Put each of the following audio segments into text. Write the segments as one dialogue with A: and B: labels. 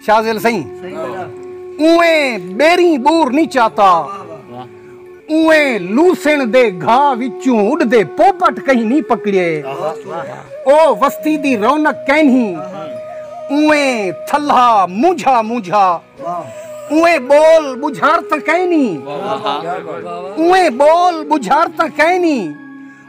A: شازل سہی اویں بیری بور نہیں چاہتا اویں لوسن دے گھا وچوں اڈ دے پوپٹ کہیں نہیں پکڑے او وستی دی رونق کہیں اویں تھلا مونجھا مونجھا اویں بول بجھارتا کہیں نہیں اویں بول بجھارتا کہیں نہیں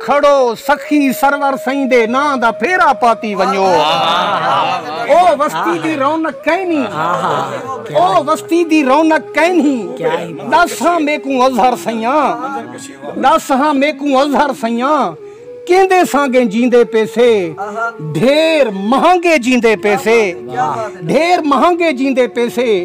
A: کھڑو سخی سرور سئیں دے ناں دا پھیرا پاتی ونجو او وستی دی رونق کینی او وستی دی رونق کینی دس ہاں میکوں اظہر سیاں دس ہاں میکوں اظہر سیاں کیندے سانگے جیندے پیسے ڈھیر مہنگے جیندے پیسے ڈھیر مہنگے جیندے پیسے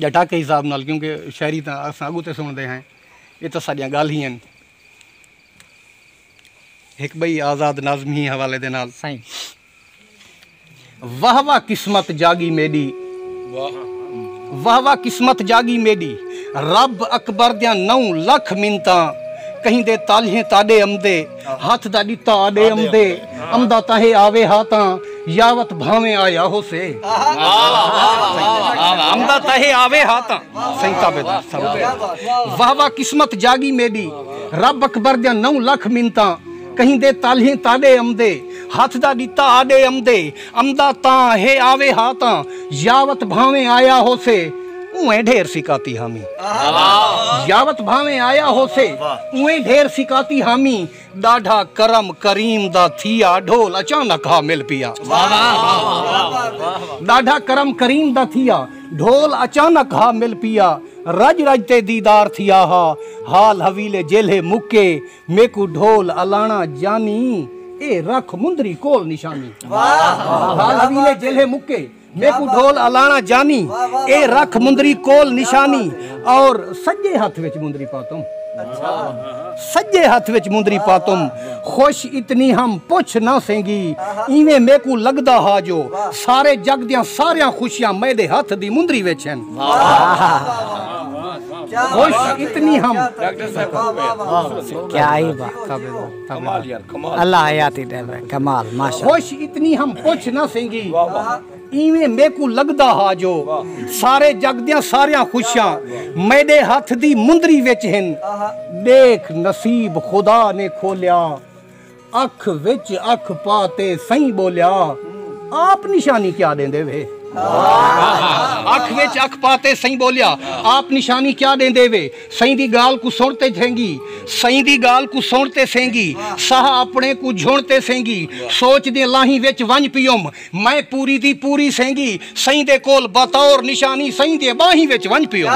A: یا ڈھاکہ حساب نال کیونکہ شاعری تاں اساں اگوں تے سنڑدے ہیں اے تاں ساڈیاں گالھ ہی ہن ہک بئی آزاد ناظم ہی حوالے دے نال سائیں واہ واہ قسمت جاگی میڈی واہ واہ قسمت جاگی میڈی رب اکبر دیاں نو لکھ منتاں کہیں دے تالہیں تاڈے امدے ہتھ دا ݙتا آݙے امدے امدا تاں ہے آوے ہا تاں یاوت بھانویں آیا ہوسے امدا تاں ہے آوے ہا تاں سائیں تابعدار سلام واہ واہ قسمت جاگی میڈی رب اکبر دیاں نو لکھ منتاں کہیں دے تالہیں تاڈے امدے ہتھ دا ݙتا آڈے امدے امدا تاں ہے آوے ہا تاں یاوت بھانویں آیا ہوسے اونویں ڈھیر سکاتی ہامی یاوت بھانویں آیا ہوسے اونویں ڈھیر سکاتی ہامی ڈاڈھا کرم کریم دا تھیا ڈھول اچانک ہا مل پیا ڈاڈھا کرم کریم دا تھیا ڈھول اچانک ہا مل پیا رج رج تے دیدار تھیا ہا حال حویلے جیلھے مکے میکوں ڈھول الاݨا جانی اے رکھ مندری کول نشانی۔ حال ویلے جیلھے مکے میکوں ڈھول الاݨا جانی اے رکھ مندری کول نشانی اور سڄے ہتھ وچ مندری پاتم سڄے ہتھ وچ مندری پاتم خوش اتنی ہم پچھ نہ سینگی ایویں میکوں لڳدا ہا جو سارے جڳ دیاں ساریاں خوشیاں میݙے ہتھ دی مندری وچ ہن۔ اتنی ہم کیا
B: ہی بات اللہ حیاتی دے میں کمال ماشاء خوش اتنی ہم
A: پوچھ نہ سنگی ایویں میکو لگدا ہا جو سارے جگ دیاں ساریاں خوشیاں میڈے ہاتھ دی مندری وچ ہن دیکھ نصیب خدا نے کھولیا اکھ وچ اکھ پا تے سئیں ٻولیا آپ نشانی کیا ݙیندے وے۔ اکھ وچ اکھ پا تے سئیں ٻولیا آپ نشانی کیا ݙیندے وے۔ سئیں دی ڳالھ کوں سݨ تے جھینگی۔ سئیں دی ڳالھ کوں سݨ تے سینگی۔ ساہ اپݨے کوں جھݨ تے سینگی۔ سوچ دیں لاہیں وچ ونڄ پیوم۔ میں پوری دی پوری سینگی سئیں دے کول بطور نشانی سئیں دیاں ٻانہیں وچ ونڄ پیوم۔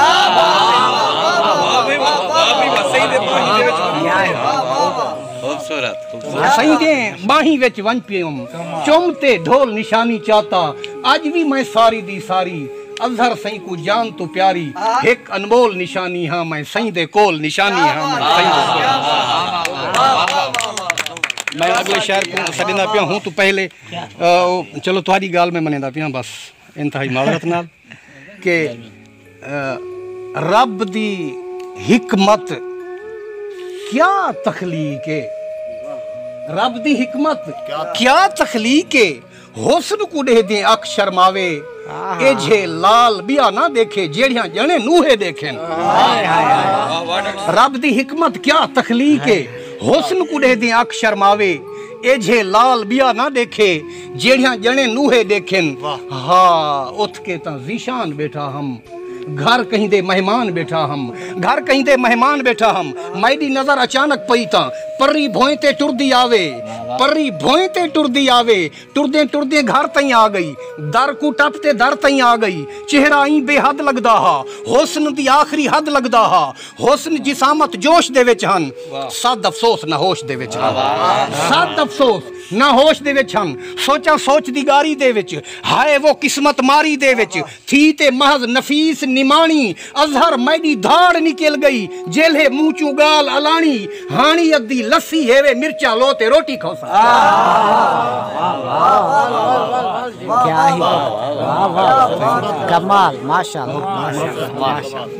A: سئیں دیاں ٻانہیں وچ ونڄ پیوم۔ چم تے ڈھول نشانی چاتا اڄ وی میں ساری دی ساری اظہر سئیں کوں جان توں پیاری ہک انمول نشانی ہاں میں سئیں دے کول نشانی ہاں میں سئیں دے کول نشانی ہاں۔ میں اڳلے شعر کوں سݙیندا پیا ہوں توں پہلے چلو تہاڈی گالھ میں منیندا پیاں بس انتہائی معذرت نال کہ رب دی حکمت کیا تخلیق ہے رب دی حکمت کیا تخلیق ہے حسن کو ڈیہہ دیں اکھ شرماوے اے جھے لال بیا نہ دیکھے جیڑھیاں جنے نوہے دیکھیں رب دی حکمت کیا تخلیق ہے حسن کو ڈیہہ دیں اکھ شرماوے ایجھے لال ٻیا نہ ݙیکھے جیڑھیاں ڄݨیں نوہے ݙیکھن ہا اتھ کے تاں ذیشان ٻیٹھا ہم گھر کہیں دے مہمان ٻیٹھا ہم گھر کہیں دے مہمان ٻیٹھا ہم میݙی نظر اچانک پئی تاں پرری بھوئیں تے ٹردی آوے پرری بھوئیں تے ٹردی آوے ٹردیں ٹردیں گھر تئیں آ ڳئی در کوں ٹپ تے در تئیں آ ڳئی چہرہ ایں بے حد لڳدا ہا حسن دی آخری حد لڳدا ہا حسن جسامت جوش دے وچ ہن صد افسوس نہ ہوش دے وچ ہن صد افسوس نہ ہوش دے وچ ہن سوچاں سوچ دی گاری دے وچ ہائے وہ قسمت ماری دے وچ تھی تے محض نفیس نماݨی اظہر میݙی دھاڑ نکل ڳئی جیلھے منہ چوں ڳالھ الاݨی ہاݨی ادھی لسی ہیوے مرچاں لو تے روٹی کھوساں
B: کیا ہی بات کمال ماشاءاللہ